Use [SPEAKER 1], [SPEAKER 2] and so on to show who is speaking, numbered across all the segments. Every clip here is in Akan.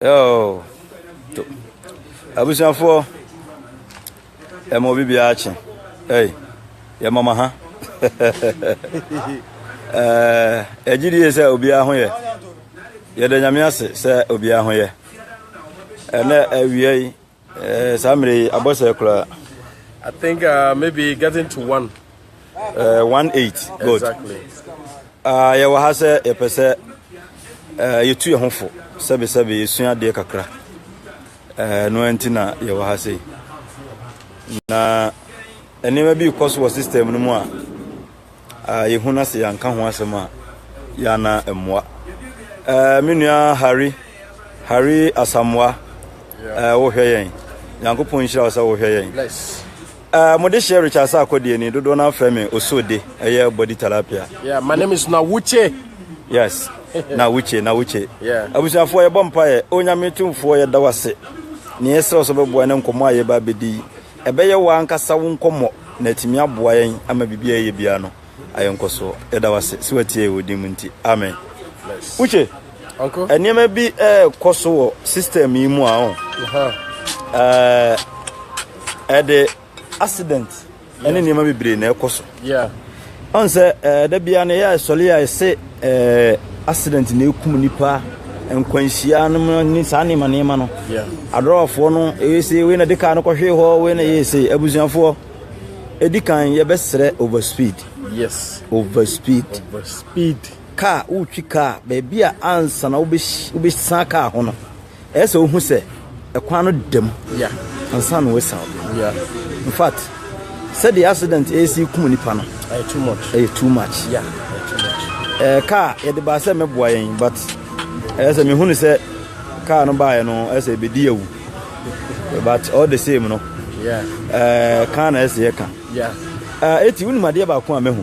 [SPEAKER 1] Oh, to- abusuafoɔ ɛma obi biara akye ei yɛma ma ha Eh, ɛgye die sɛ obiara ho yɛ yɛda nyame ase sɛ obiara ho yɛ ɛnɛ awia yi Eh, saa mmerɛ yi abɔ sɛ koraa. I think
[SPEAKER 2] uh, maybe getting to one. Uh, one eight.
[SPEAKER 1] Good. Exactly.
[SPEAKER 2] Uh,
[SPEAKER 1] yɛwɔ ha sɛ yɛpɛ sɛ uh, yɛtu yɛn ho fo sɛbesɛbe yɛsua adeɛ kakra uh, no nti na yɛwɔ ha sei na nneɛma bi kɔ so wɔ system no mu a a yɛhu na sɛ yɛanka ho asɛm a, yɛana mmoa. Ɛɛ me nua Harry, Harry Asamoah, ɛɛ wohwɛ yɛn. Nyankopɔn nhyira wo sɛ wohwɛ yɛn. Uh, mo de hyɛ Richard sɛ akɔdeɛ ni dodoɔ no afrɛ me osode ɛyɛ body talapia. Yeah, my name is
[SPEAKER 2] Nawuche. Yes,
[SPEAKER 1] Nawuche, Nawuche. Yeah. Abusuafoɔ
[SPEAKER 2] yɛbɔ mpaeɛ,
[SPEAKER 1] onyame tumfoɔ yɛda wo ase. Ne yɛsrɛ wo sɛ bɛboa ne nkɔmmɔ a yɛba bɛdi Ɛbɛyɛ wo ankasa wo nkɔmmɔ na atumi aboa yɛn ama biribi a yɛyɛ biara no ayɛ nkɔsoɔ. Yɛda wo ase sɛ watie yɛn wɔ din mu nti. Amen. Uche,
[SPEAKER 2] nneɛma bi ɛrekɔ
[SPEAKER 1] so wɔ system yi mu a ɔn. Ɛde accident ɛne nneɛma bebree na ɛkɔ so.
[SPEAKER 2] Ɔn sɛ
[SPEAKER 1] ɛɛ da biara no yɛ sɔre a ɛsɛ ɛɛ accident na ekum nipa nkwanhyia no ne saa nneɛma nneɛma no. Adɔwafoɔ
[SPEAKER 2] no
[SPEAKER 1] ɛyɛ se wei na de kaa no kɔhwee hɔ wei na ɛyɛ se abusuafoɔ ɛdi kan yɛbɛsrɛ over speed. Yes.
[SPEAKER 2] Over speed.
[SPEAKER 1] Over speed. Kaa wotwi kaa baabi a ansa na wobɛsan kaa ho no. Ɛyɛ sɛ wohu sɛ kwan no da mu ansa
[SPEAKER 2] na wɔasian
[SPEAKER 1] kwan. In
[SPEAKER 2] fact,
[SPEAKER 1] sɛdeɛ accident resi kum nnipa no, ɛyɛ too
[SPEAKER 2] much. Ɛɛ kaa yɛde
[SPEAKER 1] baa sɛ mɛboa yɛn but ɛyɛ sɛ mehunu sɛ kaa no baeɛ no ɛyɛ sɛ ɛbɛdi awu. But all the same no, ɛɛ
[SPEAKER 2] kaa na
[SPEAKER 1] ɛsɛ yɛka. Ɛɛ
[SPEAKER 2] eti wonim
[SPEAKER 1] adeɛ baako a mɛhu.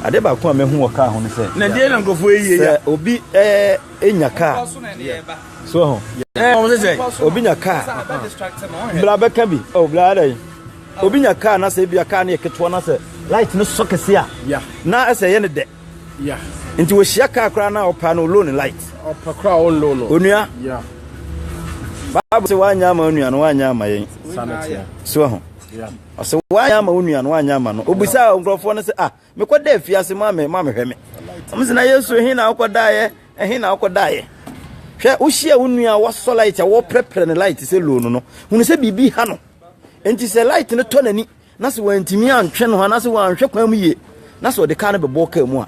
[SPEAKER 1] Adeɛ baako a mɛhu wɔ kaa ho no sɛ. Na deɛ na nkurɔfoɔ yɛ yɛ.
[SPEAKER 2] Sɛ obi ɛɛ.
[SPEAKER 1] nya kaa so ho ɛɛ wɔn sɛ obi nya kaa bla bɛka bi ɔ oh, bla ada yi obi nya kaa na sɛ ebi a kaa no yɛ ketewa na sɛ light no sɔ kɛse a na ɛsɛ yɛ
[SPEAKER 2] ne dɛ nti wɔhyia
[SPEAKER 1] kaa koraa na ɔpa no loan light ɔpa koraa ɔn loan
[SPEAKER 2] no onua
[SPEAKER 1] baabu sɛ wanyɛ ama onua no wanyɛ ama yɛn so
[SPEAKER 2] ho
[SPEAKER 1] ɔsɛ
[SPEAKER 2] wanyɛ ama
[SPEAKER 1] onua no wanyɛ ama no obisa nkurɔfoɔ no sɛ ah Mekɔ da afiase ma me ma me hwɛ me. Ɔmo sɛ na Yesu ɛhe na ɔkɔ da yɛ ɛhe na ɔkɔ da yɛ. Hwɛ wohyia wo nua wasɔ light a wɔpɛrɛpɛrɛ ne light sɛ loan no hunu sɛ biribi ha no nti sɛ light no tɔ n'ani na sɛ wantumi antwe no anaasɛ wanhwɛ kwan mu yie na sɛ ɔde kaa no bɛbɔ kaa mu a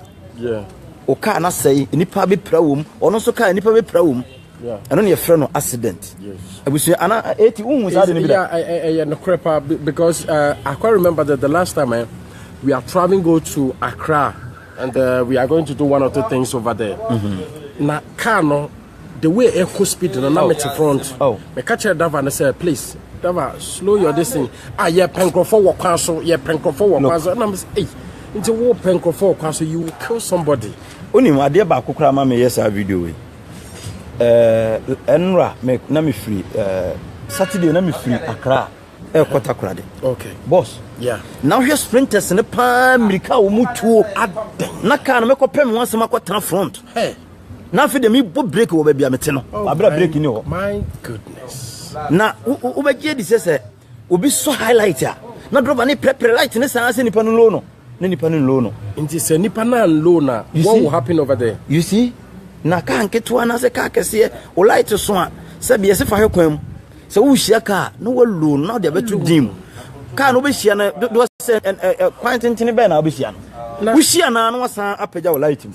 [SPEAKER 1] wo
[SPEAKER 2] kaa no
[SPEAKER 1] asɛe nipa bɛpira wɔ mu ɔno nso kaa nipa bɛpira wɔ mu. ɛno na yɛfrɛ
[SPEAKER 2] no
[SPEAKER 1] accident abusua ana
[SPEAKER 2] eti
[SPEAKER 1] wohu saa de no bi da ɛyɛ
[SPEAKER 2] nokorɛ paa because uh, I quite remember that the last time eh, we are traveling go to Accra and uh, we are going to do one or two things over there mm-hmm. na car no the way ɛkɔ speed no na oh. mete front oh. meka kyerɛ dava
[SPEAKER 1] no sɛ
[SPEAKER 2] please dava slow your this thing ah yɛpɛ nkurɔfoɔ wɔ kwan so yɛpɛ nkurɔfoɔ wɔ kwan so ɛnam sɛ ei nti wopɛ nkurɔfoɔ wɔ kwan so you will kill somebody wonim adeɛ
[SPEAKER 1] baako koraa ma meyɛ saa video wei Ɛɛ, ɛnora me na me firi ɛɛ Saturday na me firi Accra ɛkɔ Takoradi. Okay. Boss.
[SPEAKER 2] Yeah.
[SPEAKER 1] Na wohwɛ
[SPEAKER 2] sprinters
[SPEAKER 1] ne paa mmirika a wɔn tuo. Adɛn. Na kaa no mɛkɔ pɛ me ho asɛm akɔ tena front. Hey. Na
[SPEAKER 2] afei deɛ mebɔ
[SPEAKER 1] break wɔ baabi a mete no. Oh, Abira break ni hɔ. My goodness.
[SPEAKER 2] Na
[SPEAKER 1] wobɛgye adi sɛ sɛ Obi sɔ high light a na driver ne prɛprɛ light ne saa sɛ nipa no low no na nipa no low no. Nti sɛ nipa no
[SPEAKER 2] unlow no a what will happen over there? You see?
[SPEAKER 1] Na kaa nketewa anaasɛ kaa kɛseɛ wo light so a sɛ biɛ se fa hwɛ kwan mu sɛ wohyia kaa na walow no na wode abɛto din mu kaa no wobɛhyia no dodoɔ sɛ kwan tentene bɛɛ na wobɛhyia no wohyia naa na wasan apagya wo light mu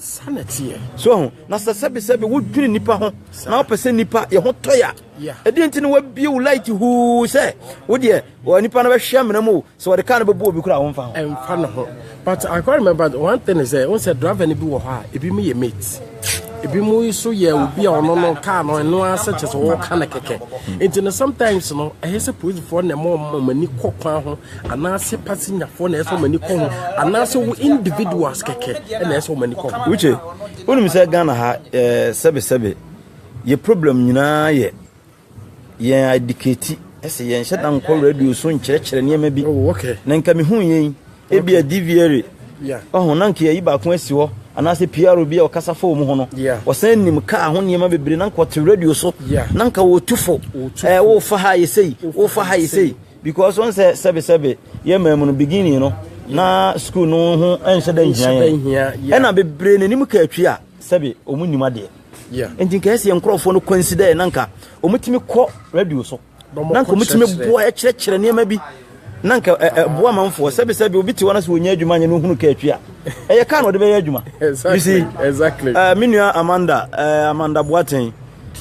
[SPEAKER 1] so
[SPEAKER 2] ho na sɛ
[SPEAKER 1] sɛbesɛbe wodwene nipa ho na wopɛ sɛ nipa yɛ ho tɔe a Ɛdeɛn nti na wabie wo light huu sɛ wo deɛ wɔ nipa no bɛhwɛ amena mu o sɛ wɔde kaa no bɛbu obi koraa womfa ho ɛmfa no ho
[SPEAKER 2] but I quite remember one thing is sɛ wo sɛ driver no bi wɔ hɔ a ebi mu yɛ mate ebi mu nso yɛ obi a ɔno no kaa no ɛno ara sɛ kyɛ sɛ wɔka no kɛkɛ nti no sometimes no ɛyɛ sɛ polisifoɔ na ɛma ɔma ani kɔ kwan ho anaasɛ pasenyafoɔ na ɛsɛ ɔma ani kɔ ho anaasɛ wo individuals kɛkɛ ɛna ɛsɛ ɔma ani kɔ ho wokye wonim
[SPEAKER 1] sɛ Ghana ha eh, sɛbesɛbe Yɛ problem nyinaa yɛ yɛn adikati sɛ yɛnhyɛ da nkɔ radio so nkyerɛkyerɛ nneɛma bi. Na nka mehu yɛn
[SPEAKER 2] ebia
[SPEAKER 1] DVRA ɔho na
[SPEAKER 2] nka yɛyi
[SPEAKER 1] baako asi hɔ anaasɛ PR bi a ɔkasa fa wɔn ho no ɔsan nim kaa ho nneɛma bebree na nka ɔte radio so na nka wɔtu fo ɛɛ wofa ha yɛ sei wofa ha yɛ sei because wɔn sɛ sɛbesɛbe yɛ mmaa mu no beginning no na sukuu no ho nhyɛ da nhia yɛn ɛna bebree n'anim ka atwi a sɛbe wɔn nim adeɛ. nti nka ɛsɛ yɛn nkurɔfoɔ no kwansi dɛ na nka wɔtumi kɔ radio so na nka wɔtumi boa kyerɛkyerɛ nneɛma bi na nka ɛboa manfoɔ sɛbisɛbi obi te hɔ no sɛ wɔnya adwuma nyɛ no hunu ka atwi a ɛyɛ ka na ɔde bɛyɛ adwuma you see
[SPEAKER 2] uh, me nua amanda
[SPEAKER 1] uh, amanda boaten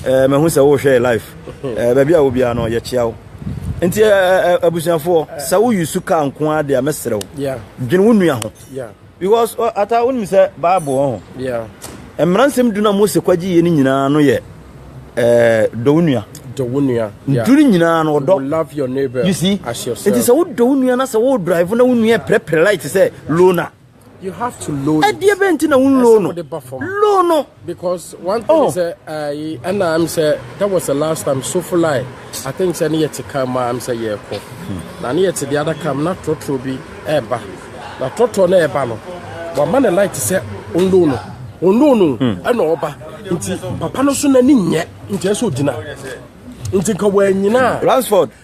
[SPEAKER 1] uh, mahu sɛ wohwɛ life uh, baabi a wo biara no yɛkyea wo nti abusuafoɔ sɛ woyi su ka nko a deɛ mɛserɛ wo dwene wo nua ho Because ata wonim sɛ Bible wɔ ho. Yeah. Mmara nsɛm du na Mose kwagye yɛ no nyinaa no yɛ eh, dɔ wo nua. Dɔ wo nua. Ntu no nyinaa no ɔdɔ. Love your neighbor. You see?
[SPEAKER 2] As yourself. Nti
[SPEAKER 1] sɛ wo dɔ
[SPEAKER 2] wo nua na sɛ
[SPEAKER 1] wo drive na wo nua pɛrɛpɛrɛ light sɛ low na. You have to
[SPEAKER 2] low. Ɛdeɛ bɛn ti na wo
[SPEAKER 1] low no? Low no. Because one thing oh.
[SPEAKER 2] sɛ ayi ɛna am sɛ that was the last time Sofolae I think sɛ ne yɛ te kan mu am sɛ yɛrekɔ hmm. na ne yɛ te the other kam na trɔtrɔ bi ɛreba na trɔtrɔ na ɛreba no wama ne light sɛ ondo no ondo no ɛna hmm. ɔba nti papa no so n'ani nyɛ nti ɛsɛ ogyina nti nka wɔanyina a. Ransford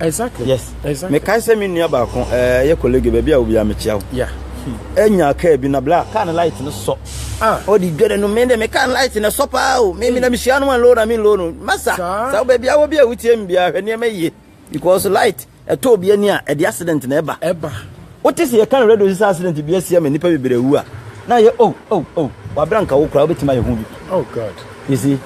[SPEAKER 1] Exactly. Yes. Exactly.
[SPEAKER 2] Mekae
[SPEAKER 1] sɛ me nua baako ɛɛ eh, yɛ colleague baabi a obi a mekyia wo. Yeah. Enya hmm. kaa bi na bla kaa ne light no sɔ. Ah. Ɔde dwere no me de me kaa light no sɔ paa o. Me me na hmm. mehyia no ma low na me low no. Masa. Sa baabi a wo bi a wotie me bia hwɛ nneɛma yie. Because light ɛtɔ obi ani a ɛde accident na ɛba. Ɛba. Wote sɛ yɛka no radio sɛ accident bi asia ma nnipa bebree wu a na yɛ oh oh oh wabra nka wo koraa wobɛtumi ayɛ ho bi. Oh God. You
[SPEAKER 2] see.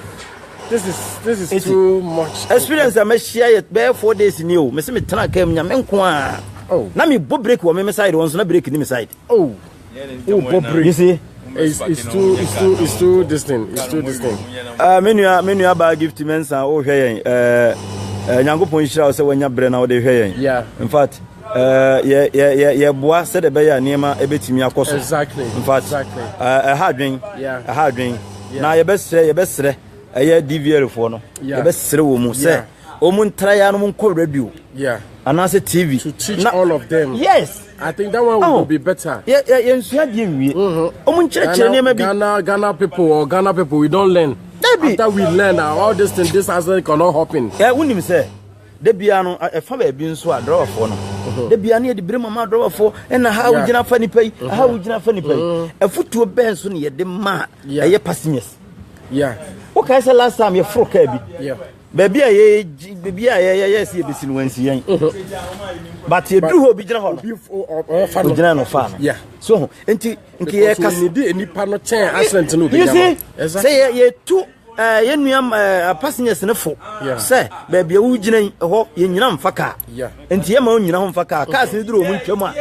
[SPEAKER 1] This is
[SPEAKER 2] this is Eti, too much. Experience a mahyia yɛ
[SPEAKER 1] bɛyɛ four days ni o. Mese metena kaa mu nya me nko a. Oh. Na mebɔ break wɔ me me side wɔn nso na break ni me side. Oh.
[SPEAKER 2] Oh, bɔ break. You see?
[SPEAKER 1] It's, it's too
[SPEAKER 2] it's too it's too distant. It's too distant. Ah, uh, me
[SPEAKER 1] nua me nua ba gift mensa o hwɛ yɛn. Eh, eh Nyankopɔn nhyira wo sɛ wanya brɛ na wo de hwɛ yɛn. Yeah. In fact, Yɛboa sɛdeɛ ɛbɛyɛ a nneɛma bɛtumi akɔ so. Exactly. In fact, exactly. Uh, ɛha adwen. Yeah. Ɛha adwen. Yeah. Na yɛbɛsrɛ yɛbɛsrɛ ɛyɛ DVL foɔ no. Yeah. Yɛbɛsrɛ wɔn mu sɛ wɔn ntra ya no nkɔ radio. Yeah. Anaasɛ TV. To teach na, all of
[SPEAKER 2] them. Yes. I think that
[SPEAKER 1] one oh. will
[SPEAKER 2] be better. Yeah, yeah, yeah. Nsua di
[SPEAKER 1] ewie. Wɔn nkyerɛkyerɛ
[SPEAKER 2] nneɛma bi. Ghana Ghana people or Ghana people we don't learn. Debbie. After we learn uh, all this thing this accident cannot happen. Yeah, wunim sɛ.
[SPEAKER 1] Da biara no, ɛfa baabi nso a drawerfoɔ no da biara ne yɛde bere mu ama drawerfoɔ ɛna ha wogyina fa nipa yi ha uh-huh. wogyina fa nipa yi uh-huh. afutuo bɛn so ne yɛde maa ɛyɛ passengers
[SPEAKER 2] wokae sɛ last
[SPEAKER 1] time yɛforo kaa bi baabi a
[SPEAKER 2] yɛ
[SPEAKER 1] baabi a yɛ yɛ si ebesi no wɔnsi yɛn uh-huh. but yɛduru hɔ obi gyina hɔ no ogyina no fa no so ho
[SPEAKER 2] nti
[SPEAKER 1] nti yɛ kasi
[SPEAKER 2] nipa no kyɛn accident no obi gyina hɔ sɛ
[SPEAKER 1] yɛ yɛ tu. Eh, yɛn nua eh, passengers no fo sɛ baabi a wogyina yi ɛhɔ yɛnyina mfa kaa nti yɛma
[SPEAKER 2] onyina ho mfa
[SPEAKER 1] kaa cars no duru ɔmo ntwam a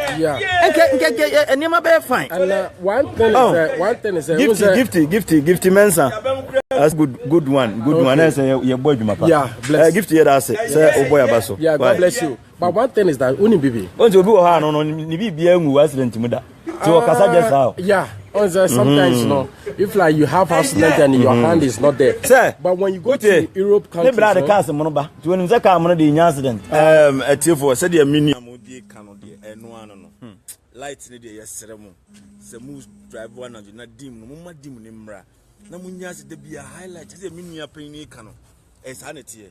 [SPEAKER 1] nkɛ nkɛ nkɛ eh, nneɛma bɛyɛ fine
[SPEAKER 2] gifty gifty gifty gifty
[SPEAKER 1] mensa that's good good one good one ɛsɛ yɛbɔ adwuma pa gifty
[SPEAKER 2] yɛ da ase sɛ
[SPEAKER 1] wobɔ yɛ aba so
[SPEAKER 2] But one thing is that woni bibi. O nti obi wɔ hɔ ano no
[SPEAKER 1] ne bibia ngu accident mu da. Ti wɔ kasa just how. Yeah. On say
[SPEAKER 2] sometimes no if like you have accident and your mm-hmm. hand is not there. Sir. But when you go to Europe countries. Ne bra de cars mo no ba.
[SPEAKER 1] Ti woni sɛ car mo no de nya accident. Um atiefo sɛ deɛ me nua mo die ka no deɛ ɛno ano no. Hmm. Light ne deɛ yɛsrɛ mo. Sɛ mo drive one anadwo na dim no mo ma dim ne mmra. Na mo nya se da bia highlight sɛ deɛ me nua panyin ka no. Ɛsaa ne teɛ.